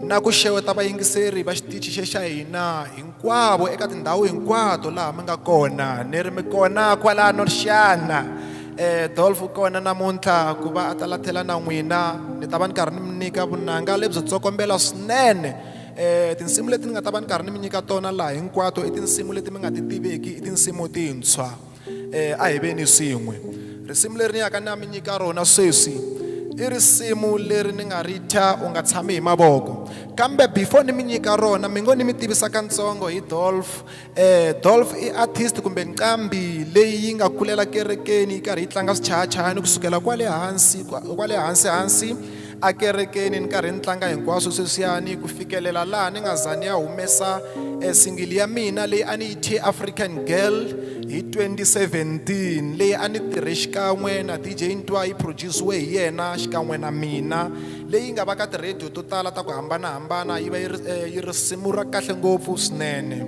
na ku xeweta vayingiseri va xitichi xe xa hina hinkwavo eka tindhawu hinkwato laha mi nga kona ni ri mi kona kwalano xana um dolf u kona namuntlha ku va a ta lathela na n'wina ni ta va ni karhi ni mi nyika vunanga lebyo tsokombela swinene um tinsimu leti ni nga ta va ni karhi ni mi nyika tona laha hinkwato i tinsimu leti mi nga ti tiveki i tinsimu tintshwa eh a hi veni swin'we risimu leri ni yaka na mi nyika rona sweswi i risimu leri ni nga ri thya u nga tshami hi mavoko kambe before ni mi nyika rona mi ngo ni mi tivisa katsongo hi dolf eh dolf i artist kumbe nqambi leyi yi nga kulela kerekeni yi karhi yi tlanga swichayachayani kusukela kwale hansi kwale hansi hansi ekerekeni ni karhi ni tlanga hinkwaswo sweswiyani ku fikelela laha ni nga za ni ya humesa e singili ya mina leyi a ni yi thye african girl hi 2017 leyi a ni tirhe xikan'we na dj ntwa yi produciwe hi yena xikan'we na mina leyi nga va ka ti-radio to tala ta ku hambanahambana yi va yi ri eh, yi risimu ra kahle ngopfu swinene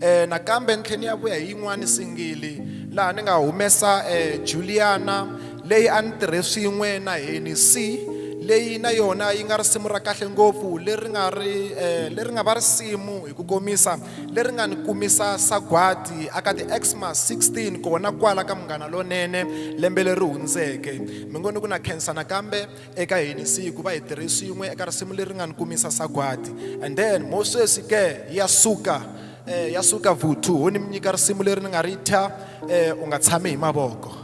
E, nakambe ni tlhe ni ya vuya hi yin'wani singili laha ni nga humesa e, juliana leyi a ni tirhe swin'we na heni si leyi na yona yi nga risimu ra kahle ngopfu leri nga ri eh, leri nga va risimu hi ku komisa leri nga ni kumisa sagwadi aka ti-xmas 16 kona kwala ka munghana lonene lembe leri hundzeke mi ngo ni ku na khensa nakambe eka hini siku va hi tirhe swin'we eka risimu leri nga ni kumisa sagwadi and then mo sweswi ke ya suka eh, ya suka vuthu ho ni mi nyika risimu leri ni nga ri thya eh, u nga tshami hi mavoko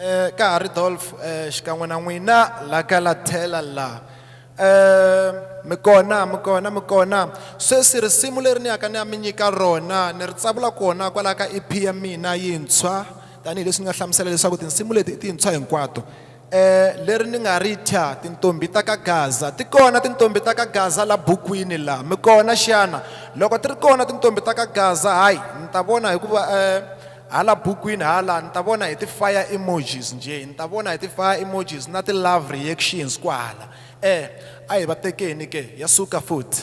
eh, ka ha ri dolf eh, xikan'we na n'wina la ka la tlhela la eh, mi kona mi kona mi kona sweswi risimu leri ni yaka ni ya mi nyika rona ni ri tsavula kona kwalaho ka ep ya mina yintshwa tanihileswi ni nga hlamusela leswaku tinsimu leti i tintshwa hinkwato Eh, leri ni nga ri thya tintombhi ta ka gaza ti kona tintombhi ta ka gaza la bukwini la mi kona xana loko ti ri kona tintombhi ta ka gaza hayi ni ta vona hikuva eh, hala bukwini hala ni ta vona hi ti-fire emojis njhe ni ta vona hi ti-fire emojis na ti-love reactions kwahala eh a hi va tekeni ke ya suka futhi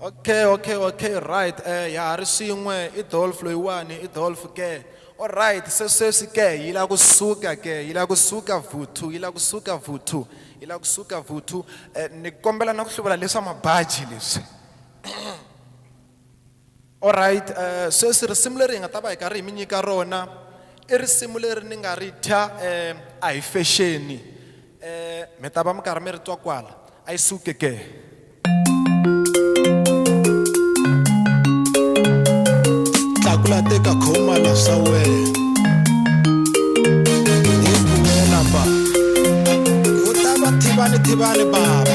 okay okay okay right eh ya ha ri swin'we i dolf loyiwani i dolf ke olright se sweswi ke yi lava ku suka ke yi lava ku suka vuthu yi lava ku suka vuthu yi lava ku suka vuthu um ni kombela na ku hluvula leswa mabaji leswi Alright, sweswi risimu leri hi nga ta va hi karhi hi mi nyika rona i risimu leri ni nga ri thya a hi fexeni, mi ta va mi karhi mi ri twa kwala, a yi suke ke. Tlakula teka khoma la swa wena hi buwela ba u ta va thivani thivani baba.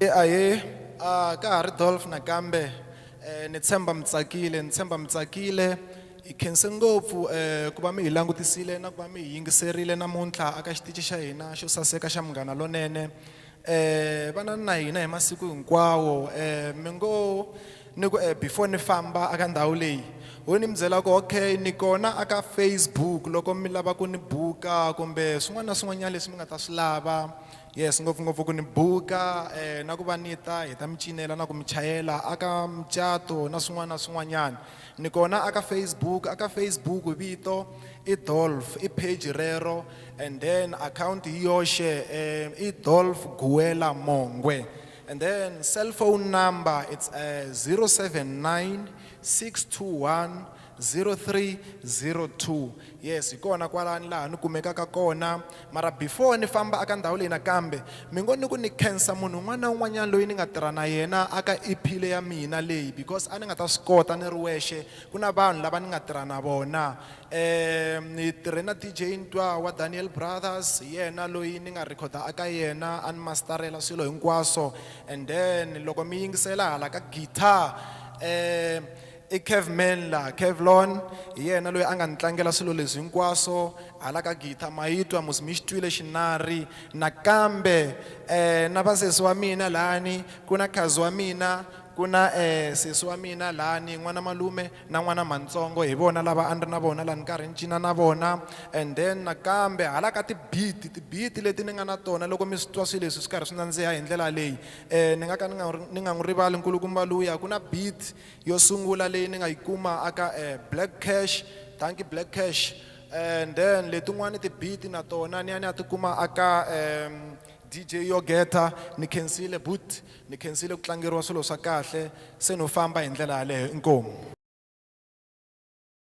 Ahee, a ka ha ri Dolph nakambe eh, ni tshemba mi tsakile ni tshemba mi tsakile hi khense ngopfu eh, ku va mi hi langutisile na ku va mi hi yingiserile namuntlha aka xitici xa hina xo saseka xa munghana lonene eh, vanani na hina hi masiku hinkwawo eh, mi ngo ni ku eh, before ni famba aka ndhawu leyi ho ni mi byela ku okay ni kona aka facebook loko mi lava ku ni buka kumbe swin'wana na swin'wanyana leswi mi nga ta swi lava Yes, ngopfungopfu ku ni buka eh, na ku va ni ta hi ta mi cinela na ku mi chayela aka mucato na swin'wana na swin'wanyana ni kona aka facebook aka facebook vito i dolf i page rero and then akhawunti hi yoxe um i dolf guwela mongwe and then cellphone number it's uh, 079 621 0302 yes hi kona kwalani laha ni kumekaka kona mara before ni famba aka ndhawu leyi nakambe mi ngo ni ku ni khensa munhu un'wana na un'wanyana loyi ni nga tirha na yena aka ephile ya mina leyi because a ni nga ta swi kota ni ri wexe ku na vanhu lava ni nga tirha na vona um ni tirhe na dj ntwa wa daniel brothers hi yena loyi ni nga rhekhoda aka yena a ni mastarela swilo hinkwaswo and then loko mi yingisela hala ka guitar um i kev menla kevlon hi yena loyi a nga ni tlangela swilo leswi hinkwaswo hala ka gita ma yi twa musi mi xi twile xinari nakambe um na vasesi wa mina lani ku na khazi wa mina ku na um sesi wa mina lani n'wana malume na n'wana mantsongo hi vona lava a ni ri na vona laha ni karhi ni cina na vona and then nakambe hala ka tibiti tibiti leti ni nga na tona loko mi swi twa swilo leswi swi karhi swi nandziha hi ndlela leyi um ni nga ka ni nga ni nga n'wi rivali nkulukumba luya ku na beat Yo sungula leyi ni nga yi kuma aka Black Cash, Dankie Black Cash, and then letin'wani ti beat na tona ni ya ni ya ti kuma aka DJ Yogeta, ni khensile but ni khensile ku tlangeriwa swilo swa kahle, se no famba hi ndlela yaleyo. Inkomu.